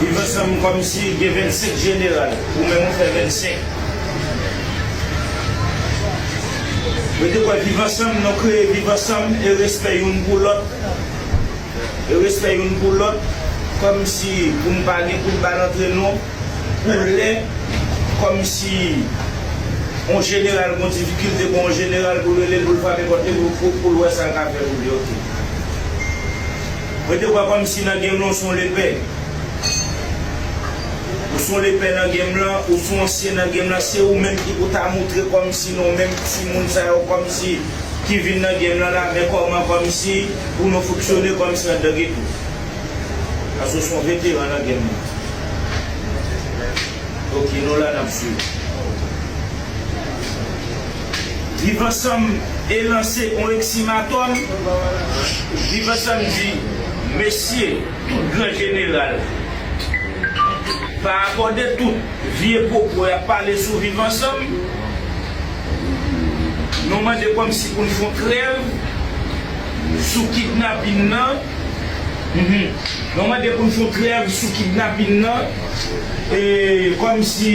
Viv ansanm komsi gen 25 jeneral ou menm ou fè 25. Mwen te kwè viv ansanm non kreye viv ansanm e respè youn pou lòt e respè youn pou lòt komsi pou n pa gen kout bal antre nou pou lè komsi on jeneral gon difikilte gon on jeneral pou rele l pou l frape pòt li pou l wè sa l ka fè pou li ok. Mwen te wè kòmsi nan game lan ou son lepè. Ou son lepè nan game lan, ou son ansyen nan game lan, se ou menm ki pou ta moutre kòmsi non menm ti moun sa yo kòmsi ki vin nan game lan la men kòman kòmsi pou nou fonksyone kòmsi andan ghetto. Paske ou son veteran nan game lan. Ok nou la nap swiv. Viv Ansanm e lanse on eksimatòm Viv Ansanm di mesi tout gran jeneral pa akòde tout vye pwopo yap pale sou Viv Ansanm Nou mande kòmsi pou n fon trèv sou kidnapin nan Nou mande pou n fon trèv sou kidnapin nan e kòmsi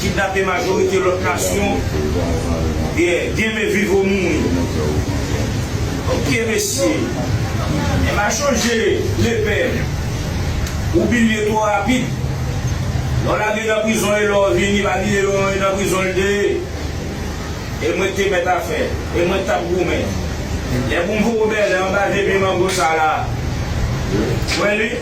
kidnape majorite lòt nasyon gen men viv ou mouri ok mesye e ma chanje lepèn ou bilye twò rapid lò lage nan prizon e lò vini pa bliye yon e nan prizon li te ye e mwen te mèt a fè e mwen tap goumen lè pou m voye bèlè anba 2 pye mango sa la mwen li.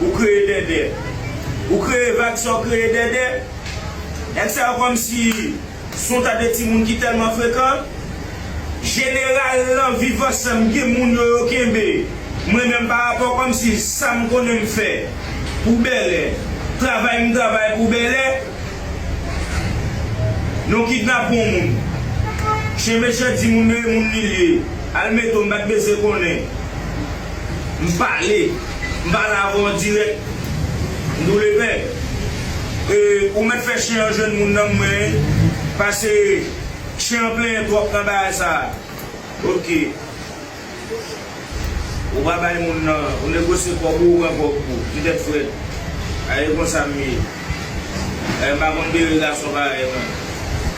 Ou kreye dèdè. Ou kreye vag sa w kreye dèdè. Nèg sa yo kòmsi son ta de timoun ki tèlman frekan. Jeneral lan viv ansanm gen moun yo yo kenbe. Mwen menm pa rapò kòmsi sa m konnen m fè pou bèlè. Travay m travay pou bèlè. Non kidnape on moun. Chen mechan di moun yo e moun li l ye. Al mete w m pa t bezwen konnen. M pale, m pale avè w an dirèk. M boule pè. E ou mèt fè chen an jwenn moun nan m mwen yen. Pase chen an plenyen twòp nan bagay sa a. Ok. Ou pa bay moun nan, ou negosye kòb ou, ou pran kòb ou. Ti tèt frèt. A e konsa m ye. E m pa konn bere gason parèy mwen.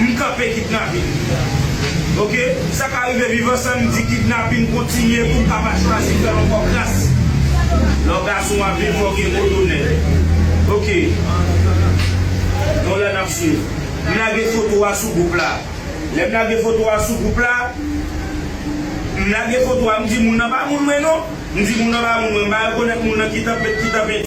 M kanpe kidnapin ok sa ka rive viv ansanm di kidnapin kontinye poum ka pa chwazi fèl ankò kras lè w gason wap viv fòw gen gwo tonè ok yon lè nap swiv m lage foto a sou gwoup la lèm lage foto a sou gwoup la m lage foto a m di moun nan pa moun mwen non m di moun nan pa moun mwen m pa rekonèt moun nan ki tanpet ki tanpete.